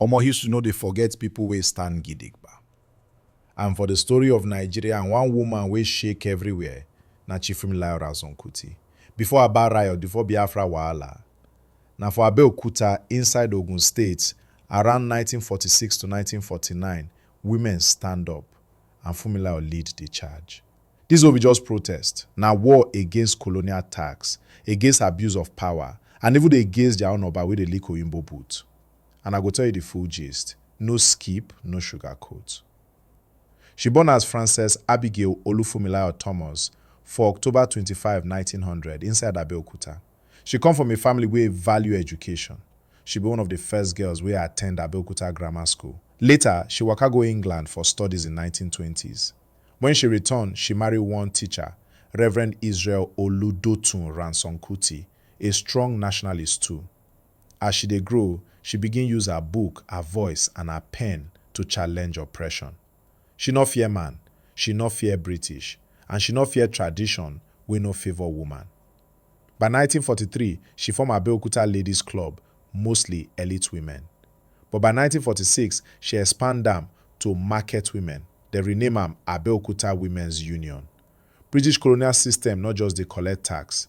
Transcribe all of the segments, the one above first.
Omo history no dey forget people wey stand gidigba and for the story of Nigeria and one woman wey shake everywhere na Chief Fumilayo Ransome Kuti. Before Aba riot, before Biafra wahala, na for Abeokuta inside Ogun State around nineteen forty six to nineteen forty nine women stand up and Fumilayo lead the charge. This no be just protest, na war against colonial tax, against abuse of power and even against their own Oba wey dey lick Oyinbo boot. and I go tell you the full gist, no skip, no sugarcoat. She born as Frances Abigail Olufunmilayo Thomas for October twenty five, nineteen hundred inside Abeokuta. She come from a family wey value education. She be one of the first girls wey attend Abeokuta Grammar School. Later, she waka go England for studies in nineteen twenty s. When she return, she marry one teacher, Reverend Israel Oludotun Ransome Kuti, a strong nationalist too. As she dey grow, she begin use her book, her voice and her pen to challenge oppression. She nor fear man, she nor fear British and she nor fear tradition wey no favour woman. By nineteen forty three, she form Abeokuta Ladies Club, mostly elite women. But by nineteen forty six, she expand am to market women, dem rename am Abeokuta Women's Union. British colonial system nor just dey collect tax,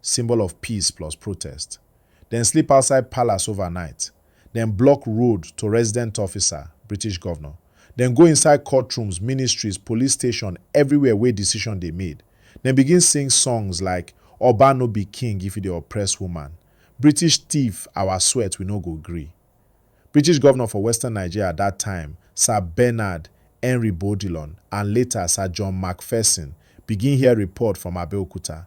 symbol of peace plus protest. Dem sleep outside palace overnight, dem block road to resident officer, British govnor, dem go inside courtrooms, ministries, police station, everywhere wey decision dey made. Dem begin sing songs like Oba no be king if you dey oppress woman, British thief our sweat we no go gree. British govnor for western Nigeria at dat time, Sir Bernard Henry Bodilon and later Sir John Macpherson begin hear report from Abeokuta.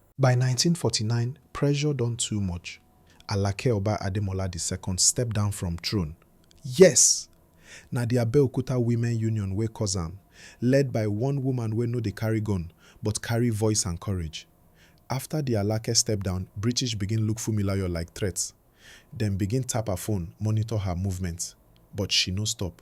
By nineteen forty nine, pressure don too much, Alake Oba Ademola di Second step down from throne. Yes! Na di Abeokuta Women Union wey cause am, led by one woman wey no dey carry gun, but carry voice and courage. After di Alake step down, British begin look Funmilayo like threat. Dem begin tap her phone, monitor her movement, but she no stop.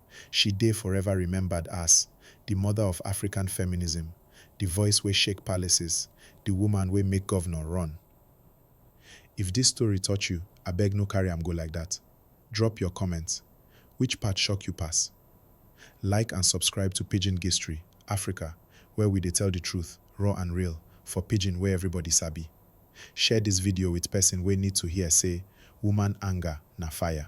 She dey forever remembered as di mother of African feminism, di voice wey shake palaces, di woman wey make governor run. If dis story touch you, abeg no carry am go like dat. Drop your comment, which part shock you pass? Like and subscribe to Pidgin Gistry, Africa, where we dey tell di truth, raw and real, for pidgin wey everybody sabi. Share dis video with person wey need to hear say woman anger na fire.